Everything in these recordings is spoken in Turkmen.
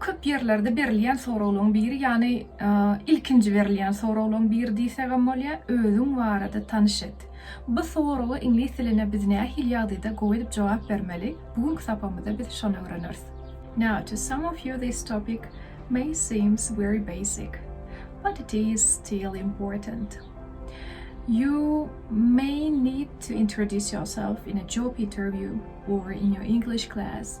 Köp ýerlerde berilýän soraglaryň biri, ýagny ilkinji berilýän soraglaryň biri diýsegem bolýar, özüň barada tanyş et. Bu soraga iňlis dilinde biz nähili ýagdaýda gowy edip jogap bermeli? Bu günki sapamyzda biz şony öwreneris. Now to some of you this topic may seems very basic, but it is still important. You may need to introduce yourself in a job interview or in your English class.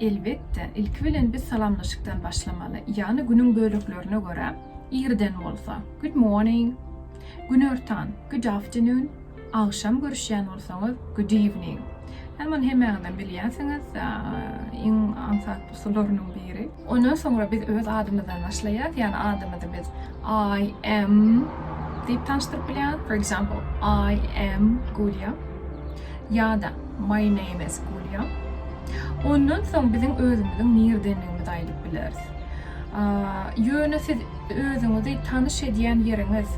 Elbetde, ilki bilen biz salamlaşykdan başlamaly, ýagny günüň böleklerine görä, irden bolsa, Good morning! Günortan, Good afternoon! Agşam görüşýän bolsaňyz, Good evening! Hany muny hemäňizem bilýänsiňiz, iň aňsat usullarynyň biri. Ondan soňra biz öz adymyzdan başlaýas, ýagny adymyzy biz I am diýip tanyşdyryp bilýäs, for example, I am Gulýa ýa-da my name is Gulýa. Ondan soň biziň özümiziň nirdendigimizi aýdyp bileris. Ýöne siz Özüňizi tanyş edýän ýeriňiz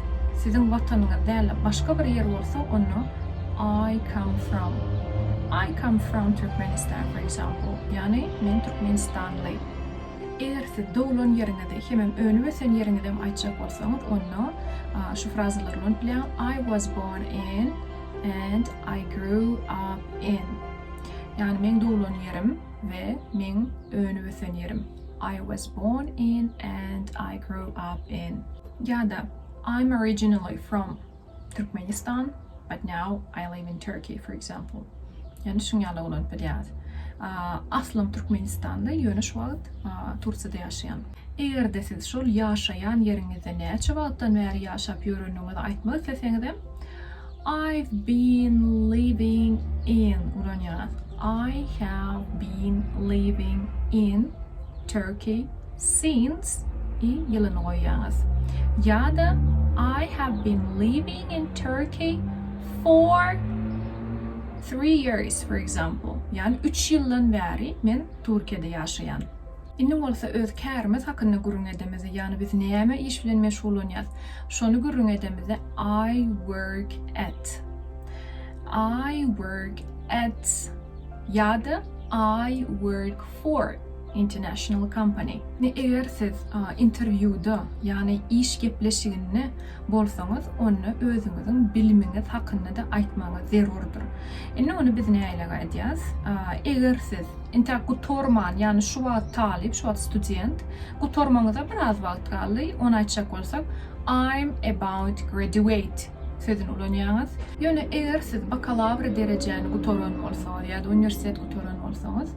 siziň watanyňyz dälde başga bir ýer bolsa onda I come from I come from Türkmenistan for example ýagny men türkmenistanly. Eger siz doglan ýeriňizi hemem önüp ösen ýeriňizem aýtjak bolsaňyz onda şu frazalary ulanyp bilýäň I was born in and I grew up in ýagny meň doglan ýerim we meň önüp-ösen ýerim, I was born in and I grew up in, ýa-da I'm originally from Türkmenistan, but now I live in Turkey, for example. Ýani şuň ýaly ulanyp bilýäris. Aslym Türkmenistanly, ýöne şu wagt Tursiýada ýaşaýan. Eger-de siz şol ýaşaýan ýeriňizde näçe wagtdan bäri ýaşap ýöreniňizi aýtmak isleseňizem, I've been living in ulan ýaz. I have been living in Turkey since i ýylyny goýýaňyz. Ýa-da I have been living in Turkey for three years for example. Ýagny üç ýyldan bäri men Türkiýede ýaşaýan. Indi bolsa öz kärimiz hakynda gürrüň edemizde, ýagny biz näme iş bilen meşgullanýarys, şony gürrüň edemizde, I work at. I work at ýa-da I work for international company. Indi eger siz interwýuda, ýagny iş gepleşiginde bolsaňyz, onda özüňiziň bilimiňiz hakynda-da aýtmagyňyz zerurdyr. Indi muny biz nälegaýdýas? Eger siz. Entäk gutarman, ýagny şu wagt talyp, şu wagt student, gutarmaňyza biraz wagt galdy, ony aýtjak bolsak, I'm about graduate sözüni ulanýaňyz. Ýöne eger siz bakalawr derejäni gutaran bolsaňyz ýa-da uniwersitet gutaran bolsaňyz,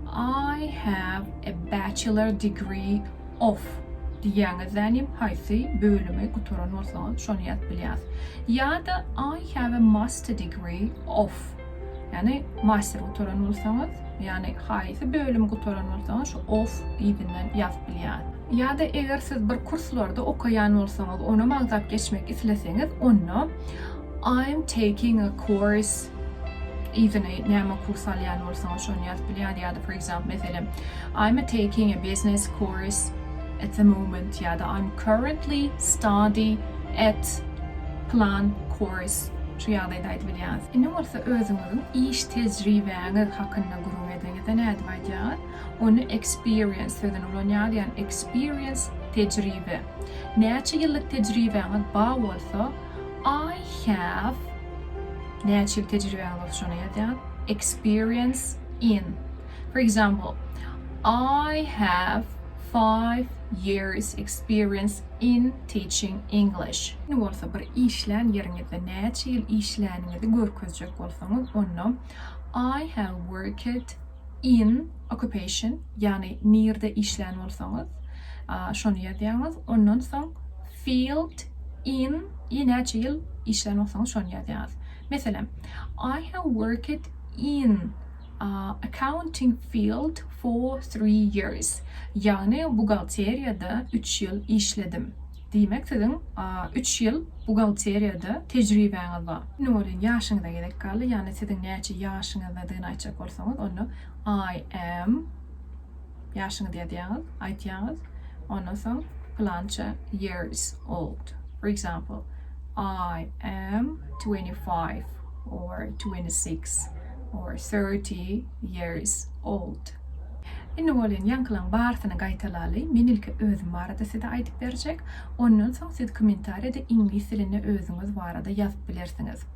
I have a bachelor degree of diýýäňizlänim haýsy bölümi gutaran bolsaňyz, şony ýazyp bilýäňiz. Ýa-da I have a master degree of. Ýagny master gutaran bolsaňyz, ýagny haýsy bölümi gutaran bolsaňyz şu of yzyndan ýazyp bilýär. Ýa-da eger siz bir kurslarda okaýan bolsaňyz, ony magtap geçmek isleseňiz, onda I am taking a course yzyny näme kurs alýan bolsaňyz şony ýazyp bilýär ýa-da for example meselem I am taking a business course at the moment ýa-da I'm currently study at plan course şu ýagdaýda aýdyp bilýäňiz. Indi bolsa özüňiziň iş tejribäňiz hakynda gürrüň ediňizde nädip aýdýaňyz? Ony experience sözüni ulanýaňyz, ýagny experience, tejribe. Näçe ýyllyk tejribäňiz ba bolsa, I have, näçe ýyl tejribäňiz bolsa şony ýazýaňyz, experience in. For example, I have five years experience in teaching English. Indi bolsa bir işlän ýeriňizde näçe ýyl işläniňizi görkezjek bolsaňyz onda I have worked in occupation ýagny nirde işlän bolsaňyz şony ýazýaňyz ondan soň field in i näçe ýyl işlän bolsaňyz şony ýazýaňyz. Meselem I have worked in Accounting field for three years, ýagny buhgalteriýada üç ýyl işledim. Diýmek, siziň üç ýyl buhgalteriýada tejribäňiz bar. Indi welin ýaşyňyza gezek galdy, ýagny siziň näçe ýaşyňyzdadygyny aýtjak bolsaňyz, onda I am. Ýaşyňyz ýazýaňyz, aýtýaňyz, ondan soň pylança years old. For example, I am twenty five or twenty six or thirty years old. Indi bolýan ýaňkylaň barysyny gaýtalaly. Men ilki özüm barada size aýdyp berjek. Ondan soň siz kommentariýada iňlis dilinde özüňiz barada ýazyp bilersiňiz.